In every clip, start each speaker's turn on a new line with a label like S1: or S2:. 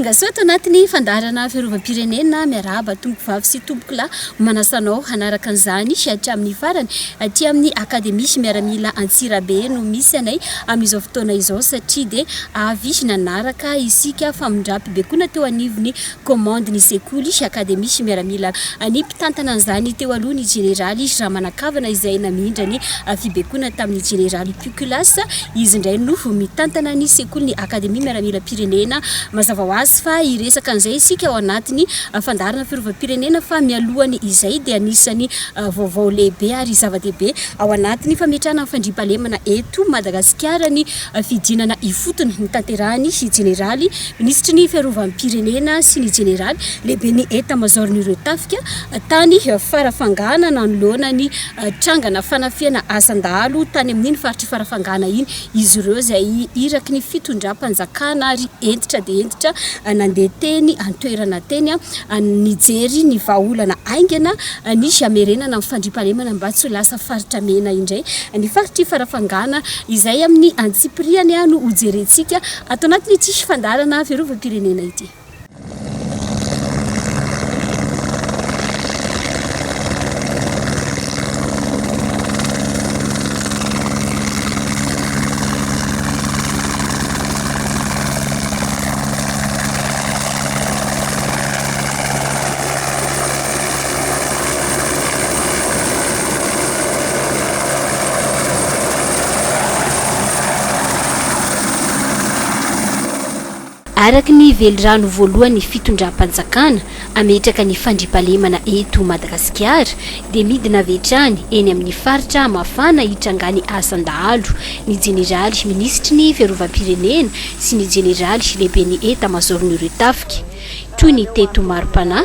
S1: Tongasoa ato anatin'ny fandaharana fiarovam-pirenena, miarahaba tompovavy sy tompokolahy manasa anao hanaraka an'izany hatramin'ny farany aty amin'ny Akademia miaramila Antsirabe no misy anay amin'izao fotoana izao satria dia avy nanaraka isika famindram-pibekona teo anivon'ny Commande ny sekoly, akademia sy miaramila. Ny mpitantana an'izany teo aloha ny jeneraly Ramanakavana izay namindra ny fibaikoana tamin'ny jeneraly Pukulas. Izy indray no mitantana ny sekolin'ny akademia miaramilam-pirenena. Mazava ho azy fa hiresaka an'izay isika ao anatin'ny fandaharana Fioravam-pirenena fa mialohan'ny izay dia anisan'ny vaovao lehibe ary zava-dehibe ao anatin'ny fametrahana ny fandriampahalemana eto Madagasikara ny Fihodinana ifotony notanterahin'ny Jeneraly Minisitry ny Fiarovam-pirenena sy ny Jeneraly Lehiben'ny Etamazaoron'ireo Tafika tany Farafangana nanoloana ny trangana fanafihana asan-dahalo tany amin'iny faritr'i Farafangana iny izy ireo izay iraky ny fitondram-panjakana ary hentitra dia hentitra nandeha teny an-toerana teny nijery ny vahaolana haingana ny hamerenana ny fandriampahalemana mba tsy ho lasa faritra mena indray ny faritr'i Farafangana Izay amin'ny antsipiriany no hojerentsika ato anatin'ity fandaharana fiarovam-pirenena ity. Araka ny velirano voalohan'ny fitondram-panjakana hametraka ny fandriampahalemana eto Madagasikara dia midina avy hatrany eny amin'ny faritra mafana hitrangan'ny asan-dahalo ny jeneraly minisitry ny fiarovam-pirenena sy ny jeneraly lehiben'ny etamazaoron'ireo tafika toy ny teto Maripana,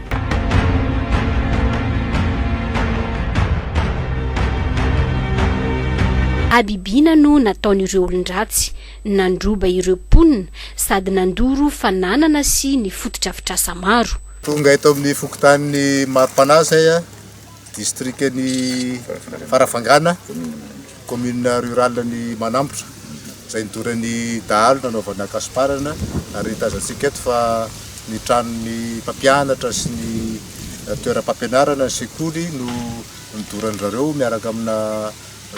S1: Habibiana no nataon'ireo olon-dratsy, nandroba ireo mponina sady nandoro fananana sy ny fotodrafitrasa maro. Tonga eto amin'ny
S2: fokontanin'i Maripana Zay, distrikan'i Farafangana. Commune rurale ny Manambotra izay nidoran'ny dahalo nanaovana kasiparana ary tazantsika eto fa ny tranon'ny mpampianatra sy ny toeram-pampianarana, ny sekoly no nidorandry zareo miaraka amina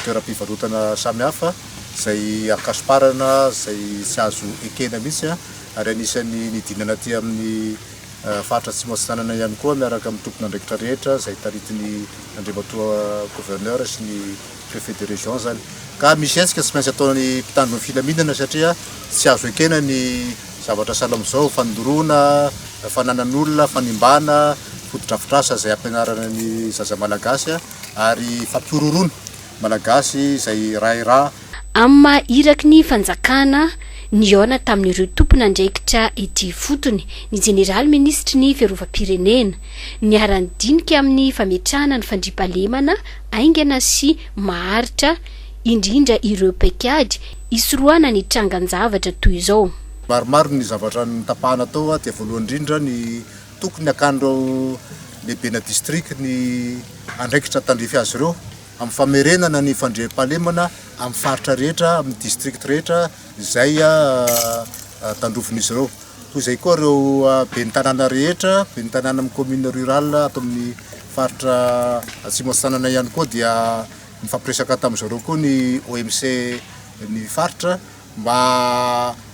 S2: toeram-pivarotana samihafa izay ankasiparana izay tsy azo ekena mihitsy ary anisan'ny nidinana aty amin'ny faritra Atsimo Atsinanana ihany koa miaraka amin'ny tompon'andraikitra rehetra izay taritin'ny Andriamatoa Gouverneur sy ny préfet de région zany ka misy hetsika tsy maintsy ataon'ny mpitandro ny filaminana satria tsy azo ekena ny zavatra sahala amin'izao, fanindoroana, fananan'olona, fanimbana, fotodrafitrasa izay ampianarana ny zaza malagasy ary fampihorohoroana malagasy izay rahy ra. Amin'ny maha
S1: iraky ny fanjakana, nihaona tamin'ireo tompon'andraikitra ety ifotony ny jeneraly minisitry ny fiarovam-pirenena, niara-nidinika amin'ny fametrahana ny fandriampahalemana haingana sy maharitra indrindra ireo paikady hisorohana ny trangan-javatra toy izao. Maromaro ny
S2: zavatra notapahana tao aty voalohany indrindra ny tokony hakan'ireo lehibena distrika ny andraikitra tandrify azy ireo amin'ny famerenana ny fandriampahalemana amin'ny faritra rehetra, amin'ny distrikta rehetra izay tandrovin'izy ireo. Toy izay koa ireo ben'ny tanàna rehetra, ben'ny tanàna amin'ny commune rurale ato amin'ny faritra Atsimo Atsinanana ihany koa dia nifampiresaka tamin'izy ireo koa ny OMC ny faritra mba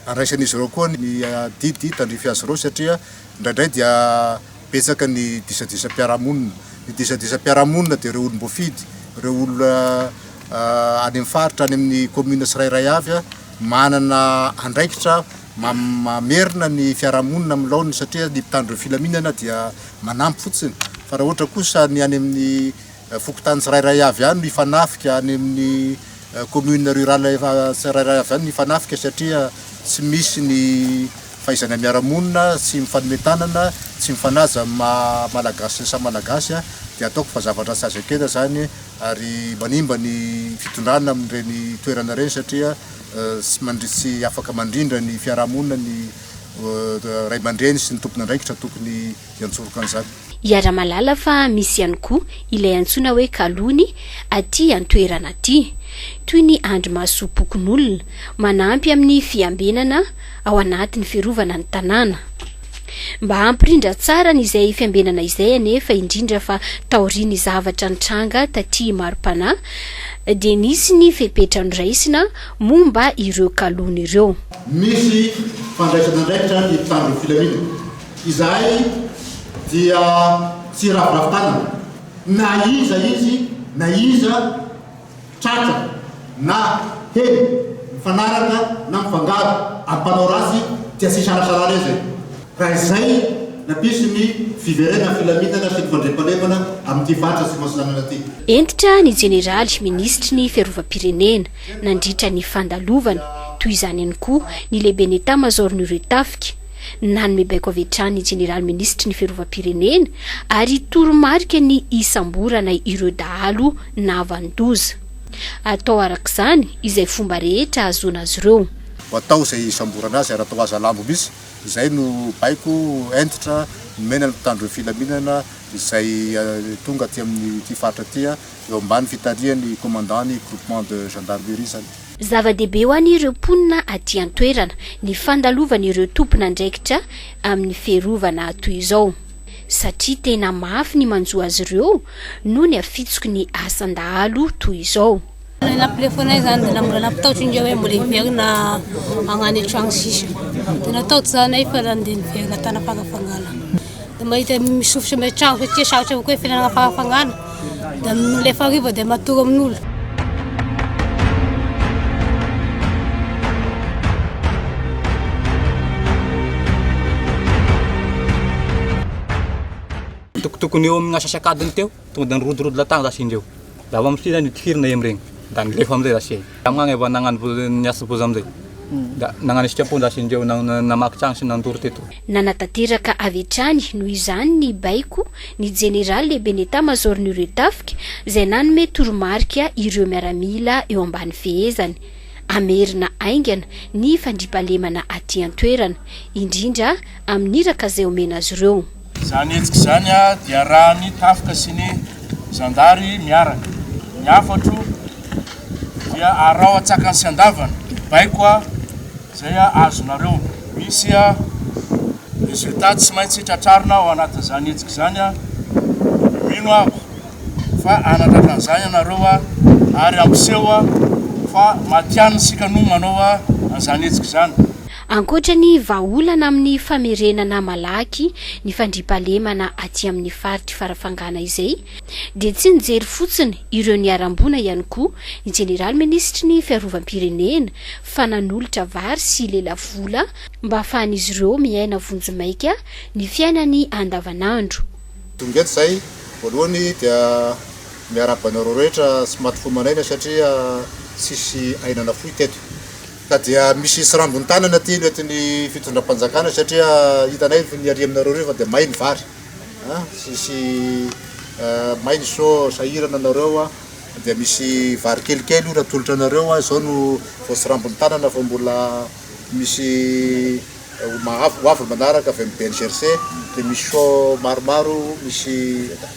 S2: handraisan'izy ireo koa ny adidy tandrify azy ireo satria indraindray dia betsaka ny disadisam-piarahamonina. Ny disadisam-piarahamonina dia ireo olom-boafidy, ireo olona any amin'ny faritra, any amin'ny commune tsirairay avy manana andraikitra Mamerina ny fiarahamonina amin'ny laoniny satria ny mpitandro ny filaminana dia manampy fotsiny fa raha ohatra kosa ny any amin'ny fokontany tsirairay avy any no hifanafika, any amin'ny commune rurale efa tsirairay avy any no hifanafika satria tsy misy ny fahaizana miara-monina, tsy mifanome tanana, tsy mifanaja amin'ny maha malagasy samy malagasy dia ataoko fa zavatra tsy azo ekena izany ary manimba ny fitondrana amin'ireny toerana ireny satria Tsy afaka mandrindra ny fiarahamonina ny ray aman-dreny sy ny tompon'andraikitra tokony hiantsoroka an'izany. Iaraha-mahalala fa
S1: misy ihany koa ilay antsoina hoe kalony aty an-toerana aty, toy ny andrimasom-pokonolona, manampy amin'ny fiambenana ao anatin'ny fiarovana ny tanàna. Mba hampirindra tsara an'izay fiambenana izay anefa, indrindra fa taorian'ny zavatra nitranga taty mari-panahy, dia nisy ny fepetra noraisina momba ireo kalony ireo. Misy
S2: fandraisana andraikitra ny mpitandron'ny filaminana. Izahay dia tsy hiraviravy tanana na iza izy na iza. Tratra na heno mifanaraka na mifangaro ary mpanao ratsy tsy asisalasala re zay. Raha izay na piso ny fiverenan'ny filaminana sy ny fandriampahalemana amin'ity faritra Atsimo Atsinanana ity. Hentitra ny
S1: Jeneraly Minisitry ny Fiarovam-pirenena nandritra ny fandalovany, toy izany ihany koa ny Lehiben'ny Etamazaoron'ireo Tafika. Nanome baiko avy hatrany ny Jeneraly Minisitry ny Fiarovam-pirenena ary toromarika ny hisamborana ireo dahalo na havan-doza. Atao araka izany izay fomba rehetra ahazoana azy ireo. Atao izay
S2: hisamborana azy ary atao aza lambo mihitsy. Izay no baiko hentitra nomena ny mpitandro ny filaminana izay tonga aty amin'ity faritra ity eo ambany fitarihan'ny Commandant ny Groupement de Gendarmerie izany. Zava-dehibe ho
S1: an'ireo mponina aty an-toerana ny fandalovan'ireo tompon'andraikitra amin'ny fiarovana toy izao, satria tena mafy ny manjo azy ireo noho ny hafitsoky ny asan-dahalo toy izao. Ny namplefonay
S3: izany dia mbola nampitahotra ingahy hoe mbola hiverina hagnano trano sisa. Dia natahotra izahay nefa nandeha niverina tany am-pangafangana. dia mahita misofosy amin'ny trano satria sarotra kokoa ny fiainana am-panafagnana dia milefa hariva dia matory amin'olo
S4: tokotokony eo amin'ny asasakadiny teo Tonga dia nirodorodo lahatany zasy indreo. Dia avy amin'izay indray no tifirina em regny. Dia nilefa amin'izay zasy ey. Dia amin'agny avy eo nagnano bo, niasa boza amin'izay. Dia nagnano esika-po zasy indreo, na, namaky tragno sy nandoro teto. Nanatanteraka
S1: avy hatrany noho izany ny baiko ny Jeneraly Lehiben'ny État Major-n'ireo tafika izay nanome toromarika ireo miaramila eo ambany fehezany hamerina haingana ny fandriampahalemana aty an-toerana, indrindra amin'ny iraka izay omena azy ireo. Izany hetsika izany
S5: dia arahan'ny tafika sy ny zandary miaraka. Ny hafatro dia araho an-tsakany sy an-davany. Baiko izay azonareo. Misy résultat tsy maintsy tratrarina ao anatin'izany hetsika izany. Mino aho fa hanatratra an'izany ianareo ary hampiseho fa matihanina isika no manao an'izany hetsika izany. Ankoatra ny
S1: vahaolana amin'ny famerenana malaky ny fandriampahalemana aty amin'ny faritr'i Farafangana izay dia tsy nijery fotsiny ireo niharam-boina ihany koa ny Jeneraly Minisitry ny Fiarovam-pirenena fa nanolotra vary sy lela vola mba hahafahan'izy ireo miaina vonjimaika ny fiainany andavanandro. Tonga eto
S2: izay, voalohany dia miarahaba anareo rehetra sy maty fo manahina satria tsisy aina nafoy teto. Ka dia misy srambin tanana teny eto ny fitondram panjakana satria hitanay fa niaria aminareo reo fa dia may ny vary an tsisy may ny so sahirana anareo an dia misy vary kelikely io raha atolotra anareo an zao no vao srambin tanana fa mbola misy ho mahavy ho avy ny manaraka avy am bngrc dia misy so maromaro misy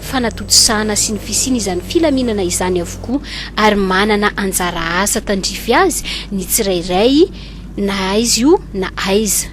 S1: fanatontosana sy ny fisian' izany filaminana izany avokoa, ary manana anjara asa tandrify azy ny tsirairay na aiza io na aiza.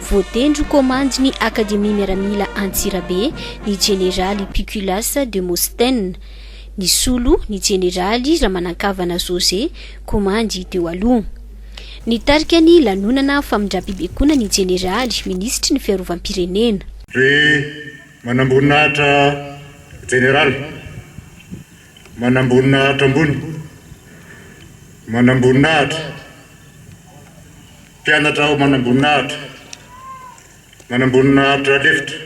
S1: Voatendry ho komandin'ny Akademia Miaramila Antsirabe ny Jeneraly Piculas Demosthène. Nisolo ny Jeneraly Ramanankavana José, komandy teo aloha. Nitarika ny lanonana famindram-pibaikoana ny Jeneraly Minisitry ny Fiarovam-pirenena. Ry manamboninahitra
S2: Jeneraly, manamboninahitra ambony, manamboninahitra. Mpianatra aho manamboninahitra, manamboninahitra lefitra,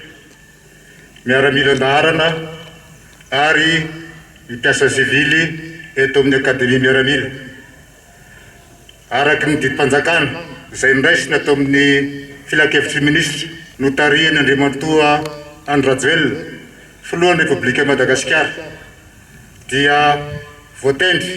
S2: miaramila an-daharana ary ny mpiasa sivily eto amin'ny Akademia Miaramila. Araka ny didim-panjakana izay noraisina tao amin'ny Filankevitry ny Minisitra notarihin' Andriamatoa Andry Rajoelina, Filohan'ny Repoblikan'i Madagasikara, dia voatendry,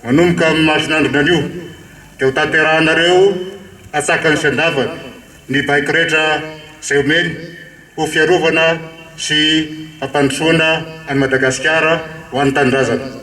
S2: Manomboka amin'ny masin'andro nanio dia ho tanterahinareo antsakany sy andavany ny baiko rehetra izay omeny ho fiarovana sy fampandrosoana an'i Madagasikara ho an'ny tanindrazana.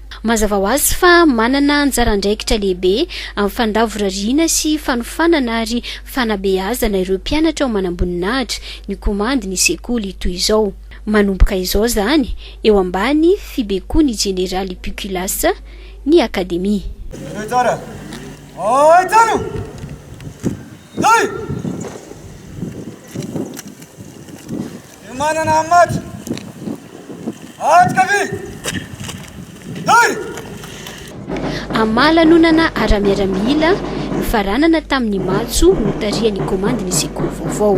S1: Mazava ho azy fa manana anjara andraikitra lehibe amin'ny fandavorariana sy fanofanana ary fanabeazana ireo mpianatra ao manamboninahitra ny komandy ny sekoly toy izao. Manomboka izao izany eo ambany fibekoan'ny Jeneraly Pukulas ny Akademia. Dia manana amin'ny maty. Aty kavia! Lay! Amin'ny maha lanonana ara-miaramila nofaranana tamin'ny matso notarihan'ny komandin'ny sekoly vaovao.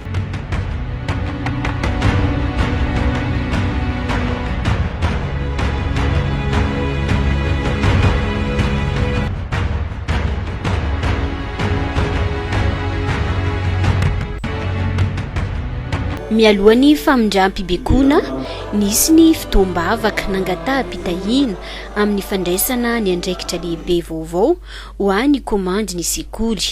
S1: Mialohan'ny famindram-pibekona, nisy ny fotoam-bavaka nangataham-pitahiana amin'ny fandraisana ny andraikitra lehibe vaovao ho an'ny kaomandin'ny sekoly.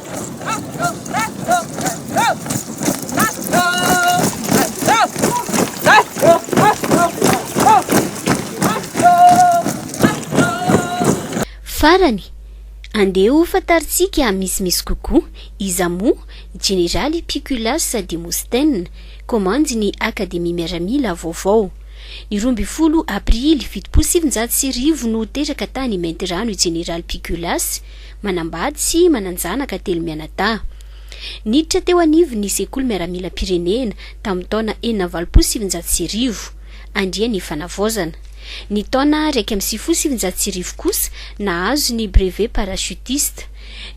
S1: Farany, andeha ho fantarintsika misimisy kokoa iza moa Jeneraly Piculas Démosthène, komandin'ny Akademia Miaramila vaovao. Ny roa ambin'ny folo aprily fitopolo sy sivinjato sy arivo no teraka tany Maintirano i Jeneraly Piculas, manambady sy manan-janaka telo mianadahy. Niditra teo anivon'ny Sekoly Miaramilam-pirenena tamin'ny taona enina amby valopolo sy sivinjato sy arivo. Andriany ny fanavaozana. Ny taona iraika amby sivifolo sy sivinjato sy arivo kosa nahazo ny brevet parachutiste.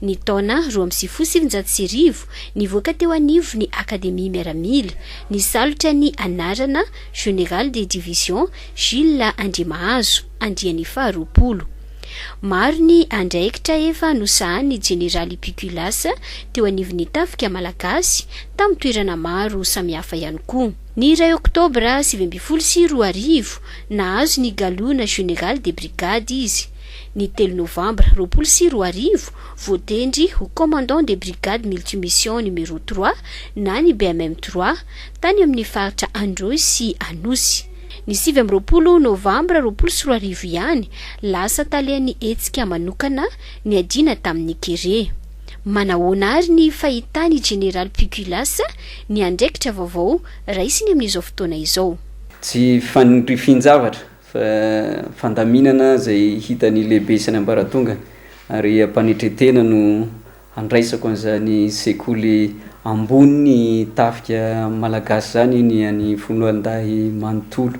S1: Ny taona roa amby sivifolo sy sivinjato sy arivo, nivoaka teo anivon'ny Akademia Miaramila, nisalotra ny anarana Général de division Jules Andriamahazo, Andriany faharoapolo. Maro ny andraikitra efa nosahanin'ny Jeneraly Pukulas teo anivon'ny Tafika Malagasy tamin'ny toerana maro samihafa ihany koa. Ny iray Oktobra sivy ambin'ny folo sy roa arivo, nahazo ny galona Général de Brigade izy. Ny telo Novambra roapolo sy roa arivo, voatendry ho Commandant de Brigade Multimission Numéro trois na ny BMM trois, tany amin'ny faritra Androy sy Anosy. Ny sivy amby roapolo novambra roapolo sy roa arivo ihany, lasa talen'ny hetsika manokana niadiana tamin'ny kere. Manahoana àry ny fahitan'i Jeneraly Pukulas ny andraikitra vaovao raisiny amin'izao fotoana izao? Tsy
S6: fanirifian-javatra, fa fandaminana izay hitan'ny lehibe sy ny ambaratongany, ary am-panetre-tena no Handraisako an'izany sekoly ambony tafika malagasy izany ny an'i Foloalindahy manontolo.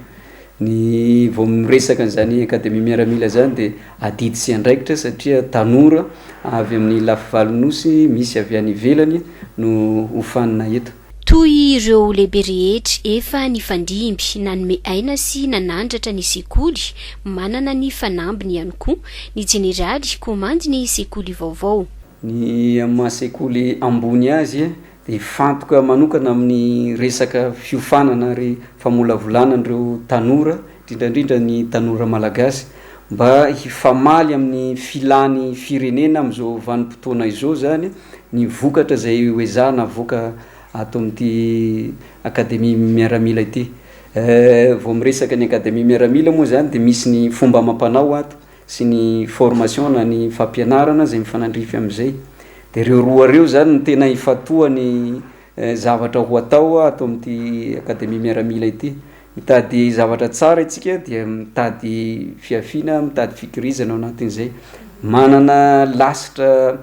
S6: Ny vao miresaka an'izany Akademia Miaramila izany dia adidy sy andraikitra satria tanora avy amin'ny lafivalon'ny Nosy misy avy any ivelany no hofanina eto. Toy ireo
S1: lehibe rehetra efa nifandimby, nanome aina sy nanandratra ny sekoly, manana ny fanambiny ihany koa ny jeneraly komandy ny sekoly vaovao. Ny amin'ny
S6: maha sekoly ambony azy dia hifantoka manokana amin'ny resaka fiofanana ary famolavolana an'ireo tanora indrindra indrindra ny tanora malagasy mba hifamaly amin'ny filàny firenena amin'izao vanim-potoana izao izany ny vokatra izay ho ezahana avoaka ato amin'ity Akademia Miaramila ity. Vao miresaka ny Akademia Miaramila moa izany dia misy ny fomba amam-panao ato sy ny formation na ny fampianarana izay mifanandrify amin'izay. Dia ireo roa ireo izany no tena ifantohan'ny Zavatra ho atao ato amin'ity Akademia Miaramila ity. Mitady zavatra tsara isika dia mitady fihafiana, mitady fikirizana ao anatin'izay. Manana lasitra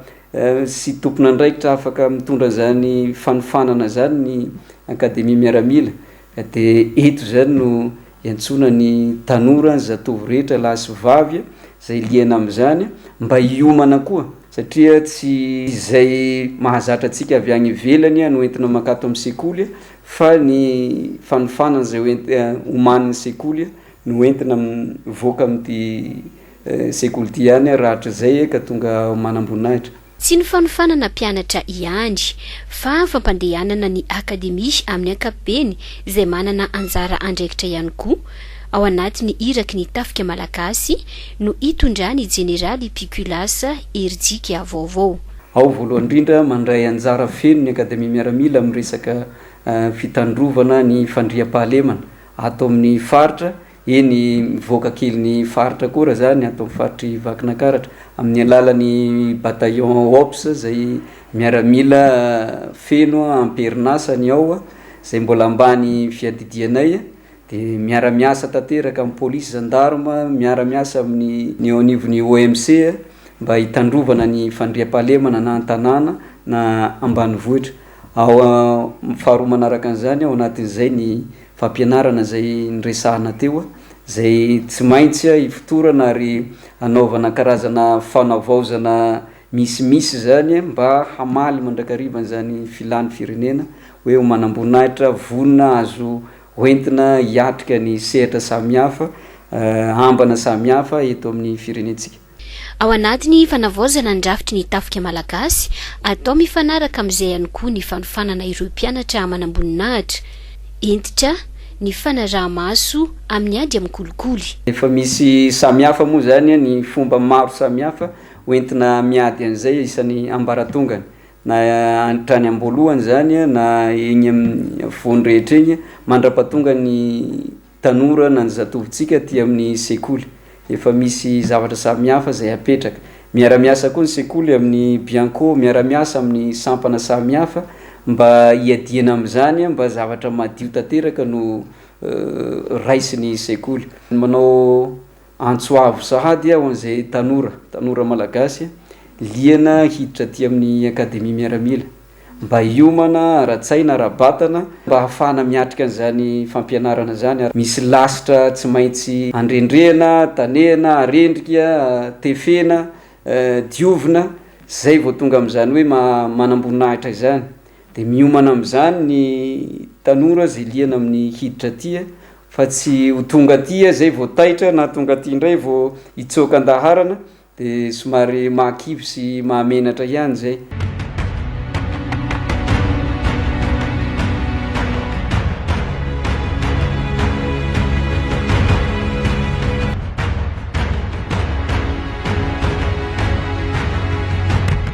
S6: sy tompon'andraikitra afaka mitondra izany fanofanana izany ny Akademia Miaramila. Dia eto izany no. Iantsoana ny tanora, ny zatovo rehetra lahy sy vavy izay liana amin'izany mba hiomana koa satria tsy izay mahazatra antsika avy any ivelany no entina mankato amin'ny sekoly fa ny fanofanana izay ho ent- omanin'ny sekoly no entina mivoaka amin'ity sekoly ity ihany rahatrizay ka tonga manamboninahitra. Tsy ny fanofanana
S1: mpianatra ihany, fa fampandehanana ny Akademia amin'ny ankapobeny izay manana anjara andraikitra ihany koa ao anatin'ny iraky ny Tafika Malagasy no itondran'i Jeneraly Pikulas herijika vaovao. Ao voalohany indrindra,
S6: mandray anjara feno ny Akademia Miaramila amin'ny resaka fitandrovana ny fandriampahalemana ato amin'ny faritra, Eny, mivoaka kely ny faritra koa raha zany ato amin'ny faritr'i Vakinankaratra, amin'ny alalan'ny bataillon OPS izay miaramila feno am-perinasa ny ao, izay mbola ambany fiadidianay, dia miara-miasa tanteraka amin'ny polisy, zandarma, miara-miasa amin'ny ny eo anivon'ny OMC mba hitandrovana ny fandriampahalemana na an-tanàna na ambanivohitra. Ao amin'ny faharoa manaraka an'izany, ao anatin'izay ny fampianarana izay niresahana teo, izay tsy maintsy ifotorana ary hanaovana karazana fanavaozana misimisy izany mba hamaly mandrakariva an'izany filan'ny firenena hoe ho manamboninahitra vonona azo hoentina hiatrika ny sehatra samihafa, ambana samihafa eto amin'ny firenentsika. Ao anatin'ny
S1: fanavaozana ny rafitry ny tafika malagasy, atao mifanaraka amin'izay ihany koa ny fanofanana ireo mpianatra manamboninahitra. Hentitra ny fanaraha-maso amin'ny ady amin'ny kolikoly. Efa misy
S6: samihafa moa izany ny fomba maro samihafa hoentina miady an'izay isan'ny ambaratongany, na hatrany am-boalohany izany na eny amin'ny afovoany rehetra eny mandra-pahatonga ny. tanora na ny zatovontsika aty amin'ny sekoly. Efa misy zavatra samihafa izay apetraka. Miara-miasa koa ny sekoly amin'ny Bianco, miara-miasa amin'ny sampana samihafa mba hiadiana amin'izany, mba zavatra madio tanteraka no raisin'ny sekoly. Manao Antso avo sahady ho an'izay tanora, tanora malagasy, liana hiditra aty amin'ny Akademia Miaramila, mba hiomana ara-tsaina, ara-batana, mba hahafahana miatrika an'izany fampianarana izany, ary misy lasitra tsy maintsy andrendrehana, tanehana, arendrika, tefena, diovina, izay vao tonga amin'izany hoe manamboninahitra izany. Dia miomana amin'izany ny tanora izay liana amin'ny hiditra aty fa tsy ho tonga aty izay vao taitra na tonga aty indray vao hitsoaka an-daharana dia somary mahakivy sy mahamenatra ihany izay.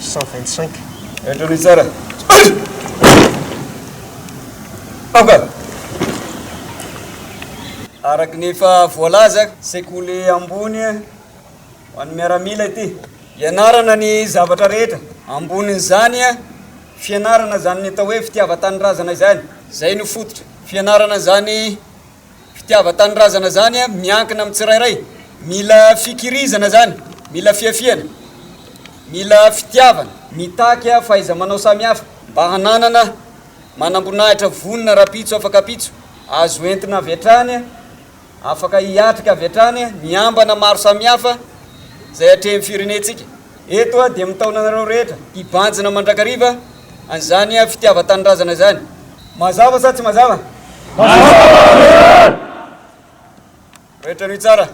S7: cent vingt cinq.
S6: Henatra aloha tsara. Aoka! Araka ny efa voalaza, sekoly ambony ho an'ny miaramila ity. Ianarana ny zavatra rehetra. Ambonin'izany, fianarana izany atao hoe fitiavan-tanindrazana izany. Izay no fototra. Fianarana izany fitiavan-tanindrazana zany miankina amin'ny tsirairay, mila fikirizana zany, mila fiafihana, mila fitiavana, mitaky fahaiza-manao samihafa mba hananana manamboninahitra vonona rahampitso afaka pitso, azo entina avy hatrany, afaka hiatrika avy hatrany ny ambana maro samihafa izay atrehin'ny firenentsika. Eto aho dia mitaona anareo rehetra hibanjina mandrakariva an'izany fitiavan-tanindrazana izany. Mazava sa tsy mazava? Rehetra hanohy tsara.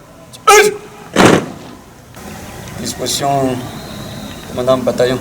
S6: Disposition Commandant Bataillon.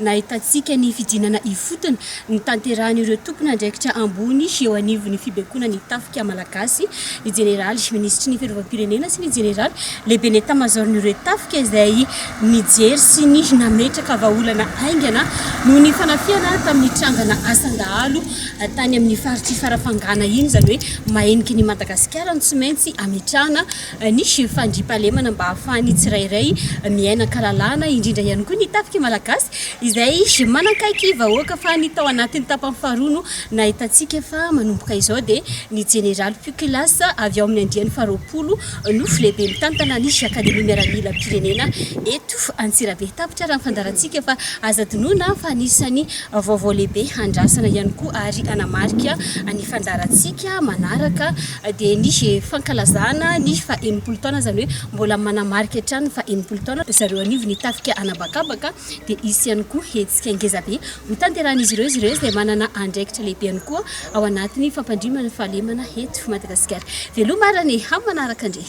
S1: Nahitantsika ny fidinana ifotony nitanterahan'ireo tompon'andraikitra ambony eo anivon'ny fibekonan'ny tafika malagasy ny jeneraly minisitry ny fiarovam-pirenena sy ny jeneraly lehiben'ny etamazaoron'ireo tafika izay nijery sy ny nametraka vahaolana haingana noho ny fanafihana tamin'ny trangana asan-dahalo tany amin'ny faritr'i Farafangana iny, izany hoe maheniky ny Madagasikara no tsy maintsy ametrahana Nisy fandriampahalemana mba hahafahan'ny tsirairay miaina an-kalalahana, indrindra ihany koa ny tafika malagasy izay manakaiky vahoaka fa ny tao anatin'ny tapany faharoa no nahitantsika fa manomboka izao dia ny jeneraly Pukilas avy ao amin'ny andiany faharoapolo no filehibe mitantana ny akademia miaramilam-pirenena eto Antsirabe. Tapitra raha ny fandaharantsika fa aza adinoina fa anisan'ny vaovao lehibe andrasana ihany koa ary hanamarika ny fandaharantsika manaraka dia nisy fankalazana ny faha enimpolo taona, izany hoe mbola manamarika hatrany ny faha enimpolo taona ry zareo anivon'ny ny tafika anabakabaka, dia hisy ihany koa hetsika ngezabe hotanterahin'izy ireo, izy ireo izay manana andraikitra lehibe ihany koa ao anatin'ny fampandriman'ny fahalemana eto Madagasikara. Veloma ary anie amin'ny manaraka ndry.